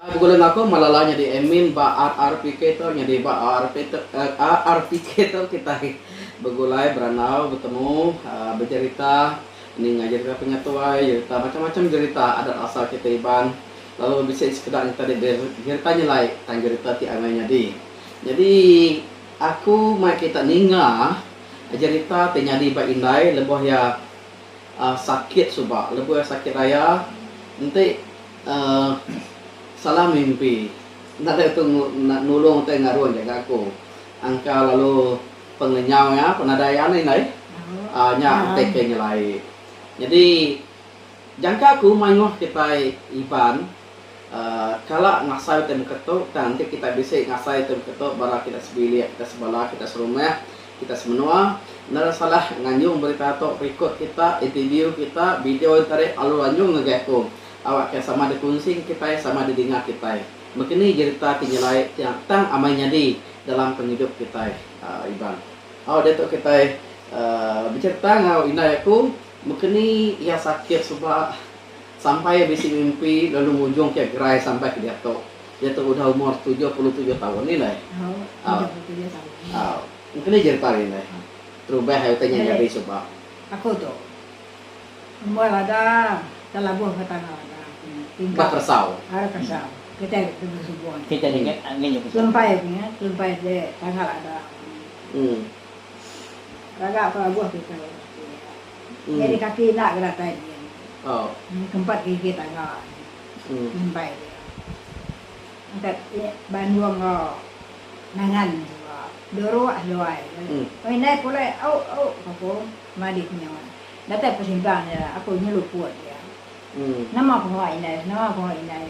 Begulai ngaku Malala nyadi admin ba RRPK tu nyadi ba RRPK tu kitai begulai berandau betemu bejerita ninga jerita pengetuai jerita macam-macam jerita adat asal kitai Iban lalu bisi sekeda jerita ti jerita nyelai tang jerita ti amai nyadi. Nyadi aku mai kita ninga jerita ti nyadi ba indai lebuh iya uhh sakit suba lebuh iya sakit raya enti uhh salah mimpi enda deh tu nulung utai ngarun ja gaku angka lalu pengenyau iya penadai iya indai uhh nya utai ke nyelai. Nyadi jangka aku mayuh kitai Iban. Kala ngasai ti muka tu tang enti kita bisi ngasai ti muka tu bala kita sebilik, kita sebala, kita serumah, kita semenua enda ada salah nganjung berita tu record kita, interview kita, video enti ari alu anjung ngagai aku awak ke sama dikunsi enggau kitai sama didinga kitai. Mungkin ni jerita ti nyelai ti tang amai nyadi dalam pengidup kitai Iban. Au diatu kitai becherita enggau indai aku. Mekeni iya sakit suba sampai iya bisi mimpi lalu ngujung ke gerai sampai ke diatu. Iya tu udah umur tujuh puluh tujuh taun indai. Au. Mekeni jerita nya indai. Terubah utai nya nyadi suba. Ba Persau. Kita ringat ngin iya Persau. Em. Raga ke abuh kitai ati. Nyadi kaki enda ke datai dia. Nyadi kempat gigi tangga dia. Imbai dia. Angkat bandu enggau nangan suba. Duruk seduai. Lalu indai pulai au au ka ku Madit nya. Datai pesimpang nya aku nyeluput dia. Nama pengawa indai nama pengawa indai.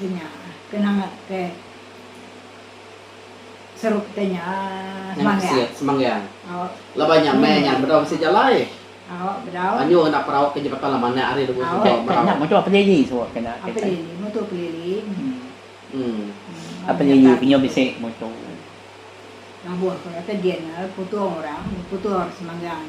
Ti nya ke nangat ke seru kita nya semanggang. Semanggang. Laban nya meh nya bedau bisi jalai. Anyu ngena perau ke jematan laban nya hari lebuh suba merau. Nya motor pelili suba kena ke tai. Pelili motor pelili. Pelili penyu bisi motor. Labuh ke kata din putung orang putung semanggang.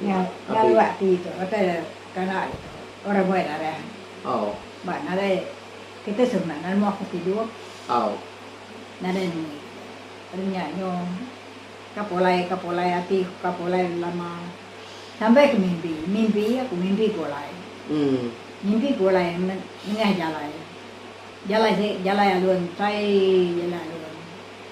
Nya lalu ati tu pasal kana orang buai darah. Ba nadai kita semua meda nemu aku tidur. Nadai nemu ari nya nyu ka pulai ka pulai ati ku ka pulai lama. Sampai ke mimpi, mimpi aku mimpi pulai. Mimpi pulai nengah jalai. Jalai se jalai alun tai jalai alun.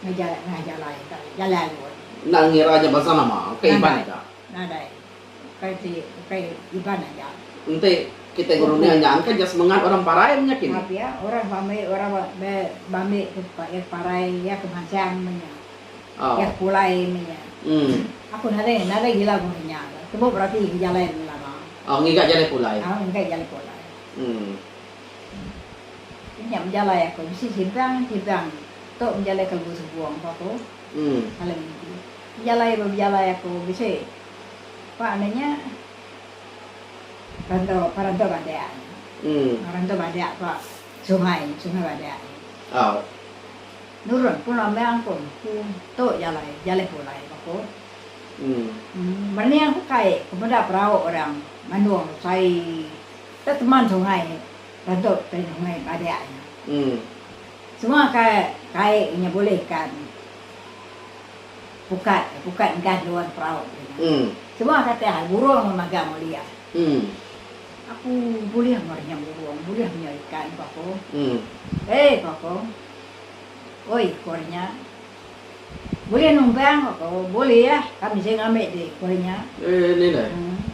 Ngejalai ngah jalai ka jalai alut. Enda ngira nya bansa nama, ukai Iban Nadai. aja. Nadai. Ukai ti, ukai Iban aja. Enti kitai ngerunih Ukai. nya engka nya semengat orang parai menya kini. Pia, orang ba meri orang ba ba ba meri ke tempat iya ke parai, iya ke mansang menya. Au. Iya ke pulai menya. Em. Aku nadai nadai gila meri nya ke. Tembu berati ke jalai lama. Au ngiga jalai pulai. Au ngiga jalai pulai. Em. Inya bejalai aku bisi sibang sibang tu bejalai ke lebuh sebung ko aku alai mudi bejalai ba bejalai aku bisi pa anu nya rantau pa rantau badak nya rantau badak pa sungai sungai badak nya nurun pun ambang pun ku tu jalai jalai pulai ba ku merening aku kai ku meda perau orang mandung sai. Ke teman sungai rentuk ke sungai badak nya. Semua ke kai nyebulikan pukat ke pukat enggan juan perauk ke nya. Semua ke tah burung magang ulih. Aku bulih meri nya burung, bulih meri nya ikan, ku aku. Hei, ku aku. Oi, ku ari nya. Bulih numbang ko ko bulih kami seh ngambi di ko inya. Eh ni ne.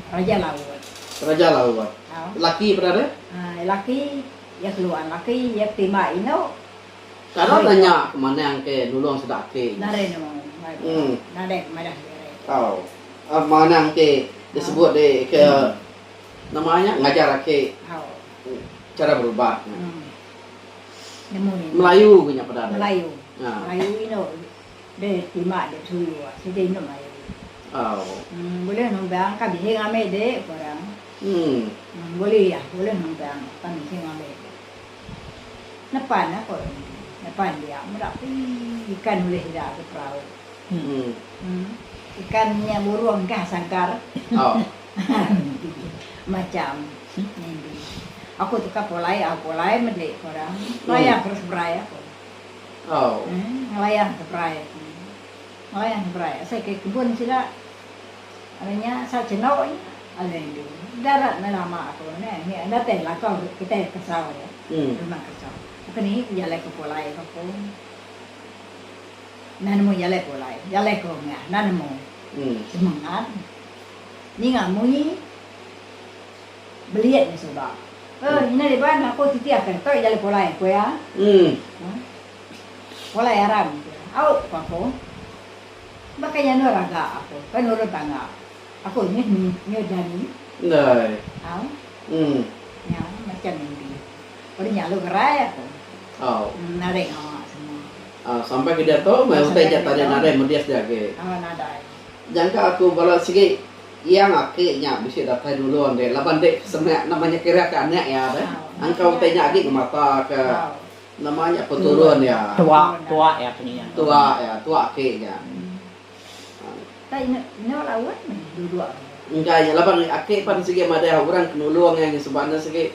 Raja laut. Raja laut. Laki peda deh. Ai laki iya keluan laki iya ketimba indu. Kado da nya ke manah engke nulung sida aki nya. Nadai nulung mai ko nadai ke madah diri. Au au manah engke di sebut di ke nama nya ngajar aki chara berubat nya. Nemu nih. Melayu ke nya peda deh. Melayu. Ha. Melayu inu de tima de tuyu ah. Sida inu melayu. Au. Em bulih numbang ka bihing ame de ko orang. Em. Em bulih iya, bulih numbang pan bihing ame de. Nepan ah ko orang nya. Nepan dia meda pii ikan ulih sida ke perau. Em. Em. Ikan nya burung kah sangkar. Au. Macam nindi aku tu ka pulai au pulai meli ko orang layan terus berai aku. Ngelayan ke berai aku. Ngelayan ke berai asai ke kebun sida ari nya asal chendok nya alai nindi darat meh lama aku neh nya enda tai belakau kitai kesau aja rumah kesau bukan nini ke jalai ke pulai ko aku enda nemu jalai pulai jalai ko meh enda nemu semengat. Ninga munyi belian nya suba. Ke ina deh ba ngaku titi akan toi jalai pulai ku iya. Huh. Pulai aram ku iya. Au ku aku. Baka nya endur aga aku. Ke nurun tangga. Aku nyut nyut nyadi. Ndai. Au. Huh. Nya macam mimpi. Pun nya lalu ngerai aku. Au. Huh naring awa semua. Au sampai ke diatu meh utai ja tanya naring medias dia agi. Au nadai. Nyangka aku bala sigi Yang aki nya bisi datai dulu ande laban ende semak nama nya kira ke anak iya deh. Engka utai nya agi ngemata ke nama nya peturun iya. Tuak tuak iya pun iya. Tuak iya, tuak aki nya. Enda enda enda laut meh duduk. Engka nya laban aki pan sigi madah orang ke nulung iya ngesemba ne sigi.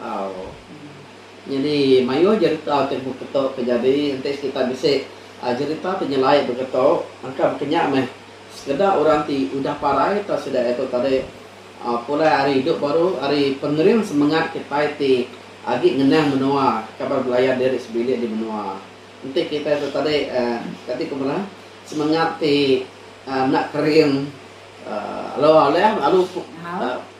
Au. Nyadi mayuh jerita ti beketo ke jadi enti kita bisi aaa jerita ti nyelai beketo engka bekenya meh sekeda orang ti udah parai tau sida iaitu tadi aaa pulai ari idup baru ari pengering semengat kitai ti agi ngenang menua kaban belayan diri sebilik di menua. Enti kitai tu tadi aaa kati ku bala semengat ti aaa enda kering aaa lalu alih lalu aaa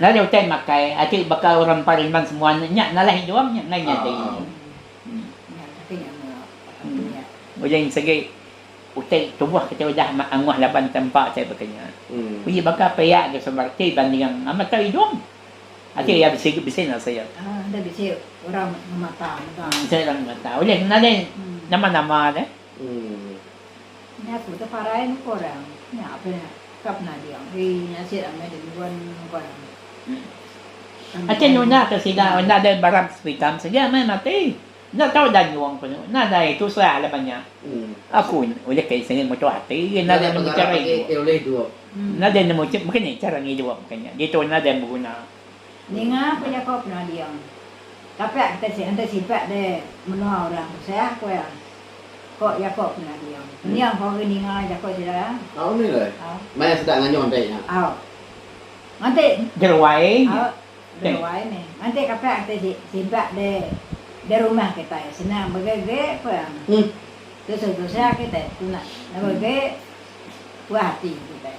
Lalu utai makai ati baka orang empa riman semua nya nalai idung nya enggai nyadi. Ulih segi utai tubuh kita udah amat angoh laban tempa utai baka nya. Uji baka pia ke sumber ti banding amat tau idung. Ati iya bisi bisi enda siuk. Enda bisi orang ngemata mega. Enti orang ngemata ulih nalai nama-nama deh. Ooh. Nya ku te parai muka orang. Nya pe ka penading. Hei nya asyik ramai deh nyuan muka orang. Asyik nyunak ke sida weh enda deh barap sepitam saja meh mati. Enda tau dah nyuong panu. Enda deh itu serak dah banyak. Aku ulih ke sengit mutu ati agi enda deh nemu cara idup. Enda deh nemu mungkin nih cara ngidup ke nya. Ditu enda deh beguna. Ninga ko jako kena diau. Tapak kita si enti sipak deh menoa orang tusah ko iya. Ko jako kena diau. Niang ko agi ninga jako sida iya. Au mih leh. Au. Maya sida nganyau enti nya. Au. Nganti. Jeruai nya. Au. Jeruai mih. Nganti kapak kita si sipak deh deh rumah kitai senang bege ge ko iya. Tusah tusah kitai tuna. Nebe ge puah ati kitai.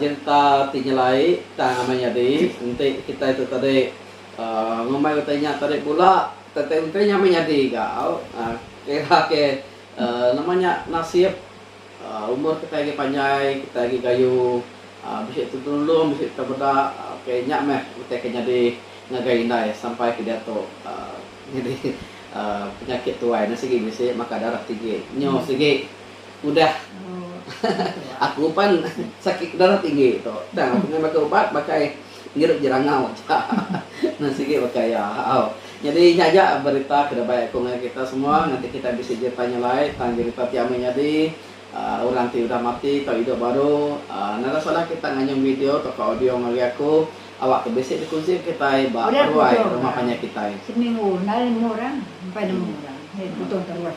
Nyereta ti nyelai tang amai nyadi enti kitai tu tadi ngumbai utai nya tadi pula tang utai nya amai nyadi gau kira ke nama nya nasib umur kitai agi panjai kitai agi gayu bisi tu tenulung bisi tu beda ok nya meh utai ke nyadi ngagai indai sampai ke diatu nyadi penyakit tuai ne sigi bisi maka darah tinggi nyu sigi. Udah. Aku pan sakit darah tinggi tu. Tang aku meh makan ubat pakai ngirup jerangau aja. Nan sigi pakai iya. Au. Nyadi nya aja berita ke dabai aku ngagai kita semua ngagai kita bisi jerita nya alai tang jerita ti amai nyadi aaa orang ti udah mati tau idup baru aaa nada salah kita nganyung video tau ka audio ngagai aku awak ke bisi dikunsi kitai ba ruai rumah panjai kitai. Seminggu enda nemu orang, empai nemu orang. Nya putung terus.